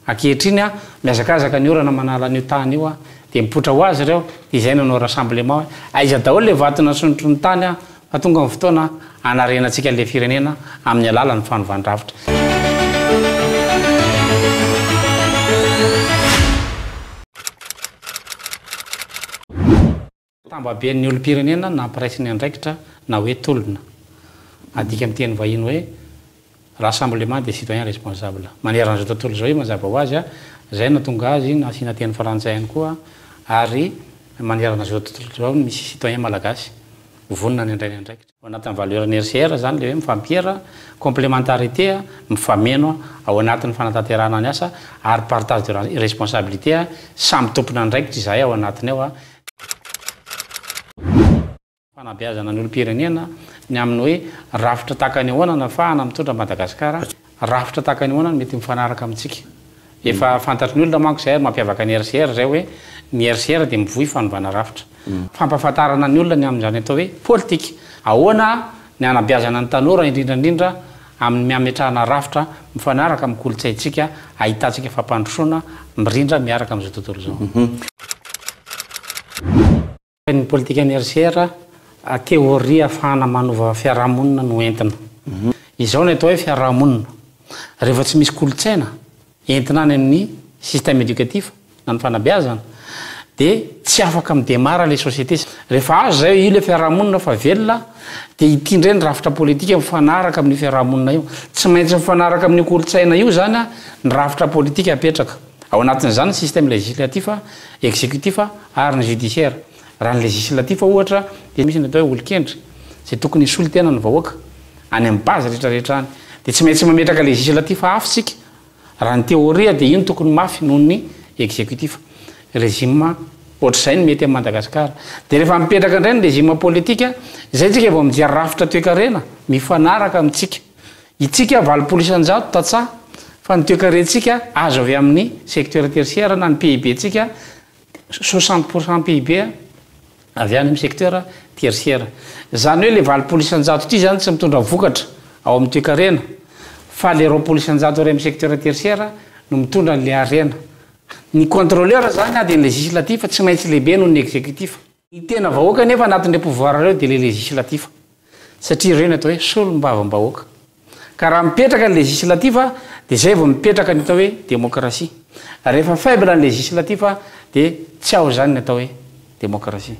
Ankehitriny, mihazakazaka ny orana manala an'io tany io, dia mipoitra ho azy ireo, dia izay no nanao rassemblement hoe, aiza daholo ilay vato nasondrotry ny tany fa tonga ny fotoana hanarenantsika an'ilay firenena amin'ny alalan'ny fanovàn-drafitra. Tambaben'ny olom-pirenena nampiraisin'ny andraikitra na hoe tolona. Adika amin'ny teny vahiny hoe Rassemblement des citoyens responsables. Manerana izao tontolo izao io mazava ho azy, izay no nahatonga azy nasiana teny frantsay ihany koa ary manerana izao tontolo izao ny misy citoyen malagasy vonona ny handray ny andraikitra. Ao anatin'ny valeur NRCR izany ilay hoe mifampiera, complémentarité, mifameno ao anatin'ny fanatanterahana ny asa ary partage de responsabilité, samy tompon'andraikitra izahay ao anatiny ao. Fanabeazana ny olom-pirenena ny amin'ny hoe rafitra tahaka ny ahoana no ahafahana mitondra an'i Madagasikara Rafitra tahaka ny ahoana no mety mifanaraka amintsika? Efa fantatry ny olona manko izay ary mampiavaka ny RCR izay hoe ny RCR dia mivoy fanovana rafitra. Fampahafantarana ny olona ny amin'izany atao hoe politika. Ahoana ny hanabeazana ny tanora indrindra indrindra amin'ny miametrahana rafitra mifanaraka amin'ny kolontsaintsika ahitantsika fampandrosoana mirindra miaraka amin'izao tontolo izao. Ny politikan'ny RCR teoria afahana manova fiarahamonina no entina. Izao no atao hoe fiarahamonina, rehefa tsy misy kolontsaina entina any amin'ny système éducatif na ny fanabeazana dia tsy afaka mi-demarre ilay société. Rehefa azo izay, io ilay fiarahamonina fa velona dia ity indray ny rafitra politika mifanaraka amin'io fiarahamonina io. Tsy maintsy mifanaraka amin'io kolontsaina io izany ny rafitra politika apetraka. Ao anatin'izany ny système législatif, exécutif ary ny judiciaire. Raha ny législatif ohatra dia misy ny atao hoe olon-kendry izay tokony hisolo tena ny vahoaka any amin'ny base rehetra rehetra any. Dia tsy maintsy mametraka législatif hafa isika raha ny théorie dia io no tokony mafy noho ny exécutif. Régime ohatr'izay no mety an'i Madagascar. Dia rehefa mipetraka indray ny régime politique, izay isika vao mijery rafitra toekarena mifanaraka amintsika. Isika valopolo isan-jato tantsaha fa ny toekarentsika azo avy amin'ny secteur tertiaire na ny PIB ntsika soixante pour cent PIB avy any amin'ny secteur tertiaire. Izany hoe ilay valopolo isan-jato ity izany tsy mitondra vokatra ao amin'ny toekarena fa ilay roapolo isan-jato iray amin'ny secteur tertiaire no mitondra an'ilay harena. Ny contrôleur izany dia ny legislatif, tsy maintsy lehibe noho ny exécutif. Ny tena vahoaka anefa anatin'ireo pouvoir ireo dia ilay legislatif satria ireo no atao hoe solombavambahoaka. Ka raha mipetraka ny legislatif dia izay vao mipetraka ny atao hoe démocratie. Rehefa faible ny legislatif dia tsy ao izany ny atao hoe démocratie.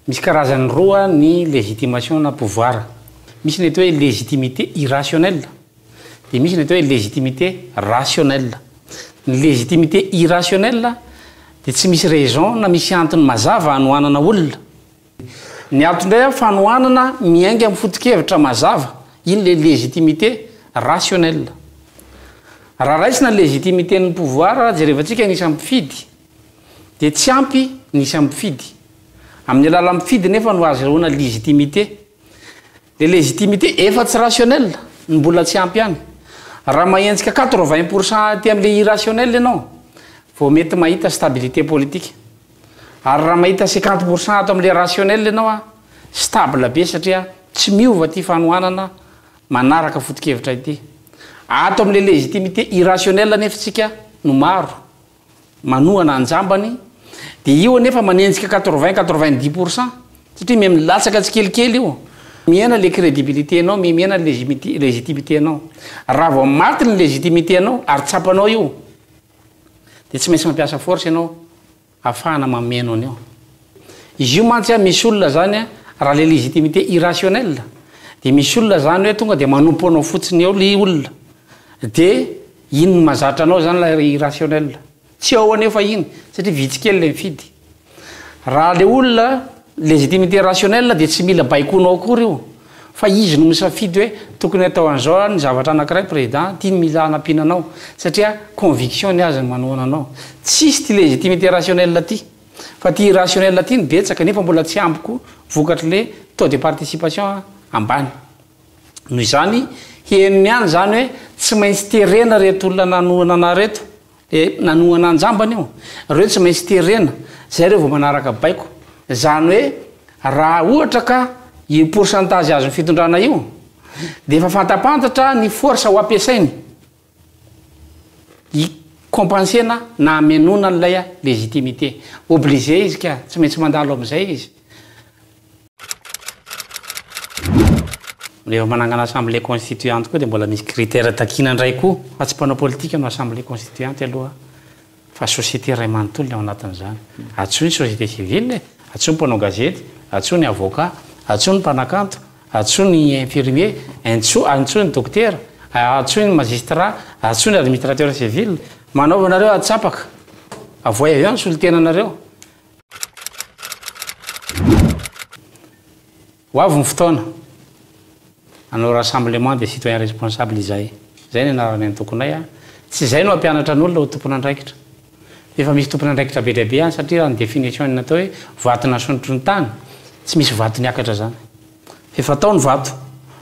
Misy karazany roa ny légitimation na pouvoir, misy ny atao hoe légitimité irrationnelle dia misy ny atao hoe légitimité rationnelle. Ny légitimité irrationnelle dia tsy misy raison na misy antony mazava hanohanana olona. Ny antony indray an, fanohanana miainga amin'ny foto-kevitra mazava, iny ilay légitimité rationnelle. Raha raisina ny légitimité-n'ny pouvoir, jerevantsika ny isan'ny mpifidy, dia tsy ampy ny isan'ny mpifidy. Amin'ny alalan'ny mpifidy nefa no ahazoana légitimité. Ilay légitimité efa tsy rationnel no mbola tsy ampy ihany. Raha mahenjika quatre vingt pour cent aty amin'ilay irrationnel ianao vao mety mahita stabilité politique. Ary raha mahita cinquante pour cent ato amin'ilay rationnel ianao an, stable be satria tsy miova ity fanohanana manaraka foto-kevitra ity. Ato amin'ilay légitimité irrationnel anefa isika no maro. manohana an-jambany dia io anefa manenjika quatre-vingts, quatre-vingt-dix pour cent satria miha milatsaka tsikelikely io. Mihena le crédibilité-nao, mihena ny legimité, légitimité-nao. Raha vao maty ny légitimité-nao ary tsapanao io dia tsy maintsy mampiasa force ianao ahafahana mameno an'io. Izy io mantsy an, misy olona zany an, raha le légitimité irrationnelle dia misy olona zany hoe tonga dia manompo anao fotsiny eo le olona dia, Iny no mahazatra anao izany ilay irrationnel. Tsy ao anefa iny, satria vitsy kely ilay mifidy. Raha ilay olona, légitimité rationnelle dia tsy mila baikoinao akory io, fa izy no misafidy hoe tokony atao an'izao ny zavatra anankiray président, ity no mila hanampiana anao, satria conviction ny azy no manohana anao. Tsisy ity légitimité rationnelle ity, fa ity irrationnelle ity no betsaka, nefa mbola tsy ampy koa vokatr'ilay taux de participation ambany. Noho izany, henony ihany izany hoe tsy maintsy terena ireto olona nanohana anah ireto, dia nanohana an-jambany io, ireo tsy maintsy terena, izay ireo vao manaraka baiko. Izany hoe raha ohatra ka io pourcentage azon'ny fitondrana io dia efa fantampantatra ny force ho ampiasainy. hi compenser-na na hamenoana an'ilay légitimité. Obligé izy ka, tsy maintsy mandalo amin'izay izy. Rehefa manangana assemblée constituante koa dia mbola misy critère takiana indray koa fa tsy mpanao politika no assemblée constituante aloha. Fa société iray manontolo ny ao anatin'izany. Antsoy ny société civile e! Antsoy ny mpanao gazety, antsoy ny avocat, antsoy ny mpanakanto, antsoy ny infirmier, entso, antsoy ny dokotera, antsoy ny magistrat, antsoy ny administrateur civil. Manaova anareo antsapaka. Avoay avy ao ny solontenanareo. Ho avy ny fotoana hanao rassemblement des citoyens responsables izahay. Izay ny anaran'ny antokonay a. Tsy izay no hampianatra ny olona ho tompon'andraikitra. Efa misy tompon'andraikitra be dia be any satria raha ny definition-ny natao hoe vato nasondrotry ny tany, tsy misy vato niakatra izany. Fa efa tao ny vato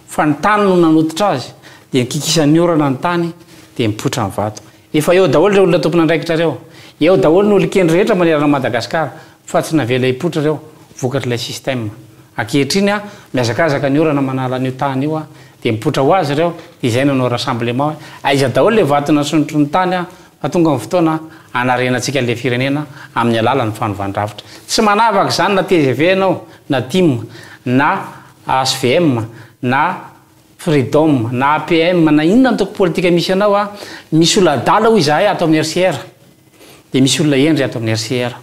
fa ny tany no nanototra azy dia ny kikisan'ny orana ny tany dia mipoitra ny vato. Efa eo daholo reo olona tompon'andraikitra reo, eo daholo ny olon-kendry rehetra manerana Madagascar fa tsy navela hipoitra reo vokatr'ilay système. Ankehitriny a, mihazakazaka ny orana manala an'io tany io a, dia mipoitra ho azy reo, dia izay nanao rassemblement hoe aiza daholo le vato nasondrotry ny tany a, fa tonga ny fotoana hanarenantsika an'ilay firenena amin'ny alalan'ny fanovàn-drafitra. Tsy manavaka izany na tgv ianao, na tim, na hvm, na. Freedom, na APM, na inona antoko politika misy anao a, misy olona adala hoy izahay ato amin'ny RCR, dia misy olona hendry ato amin'ny RCR.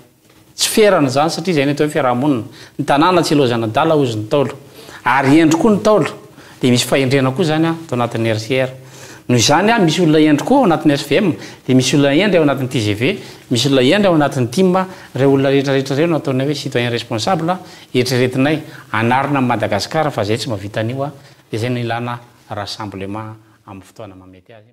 Tsy ferana izany satria izay no atao hoe fiaraha-monina. Ny tanàna tsy ilaozana adala hozy ny Ntaolo. Ary hendry koa ny Ntaolo. Dia misy fahendrena koa izany ato anatin'ny RCR. Noho izany a, misy olona hendry koa ao anatin'ny HVM, dia misy olona hendry ao anatin'ny tgv, misy olona hendry ao anatin'ny tim. Ireo olona rehetra rehetra ireo no ataonay hoe citoyen responsable. Eritreretinay hanarina an'i Madagasikara fa zay tsy mahavita an'io a! de zay no ilana rassemblement amin'ny fotoana mahamety azy.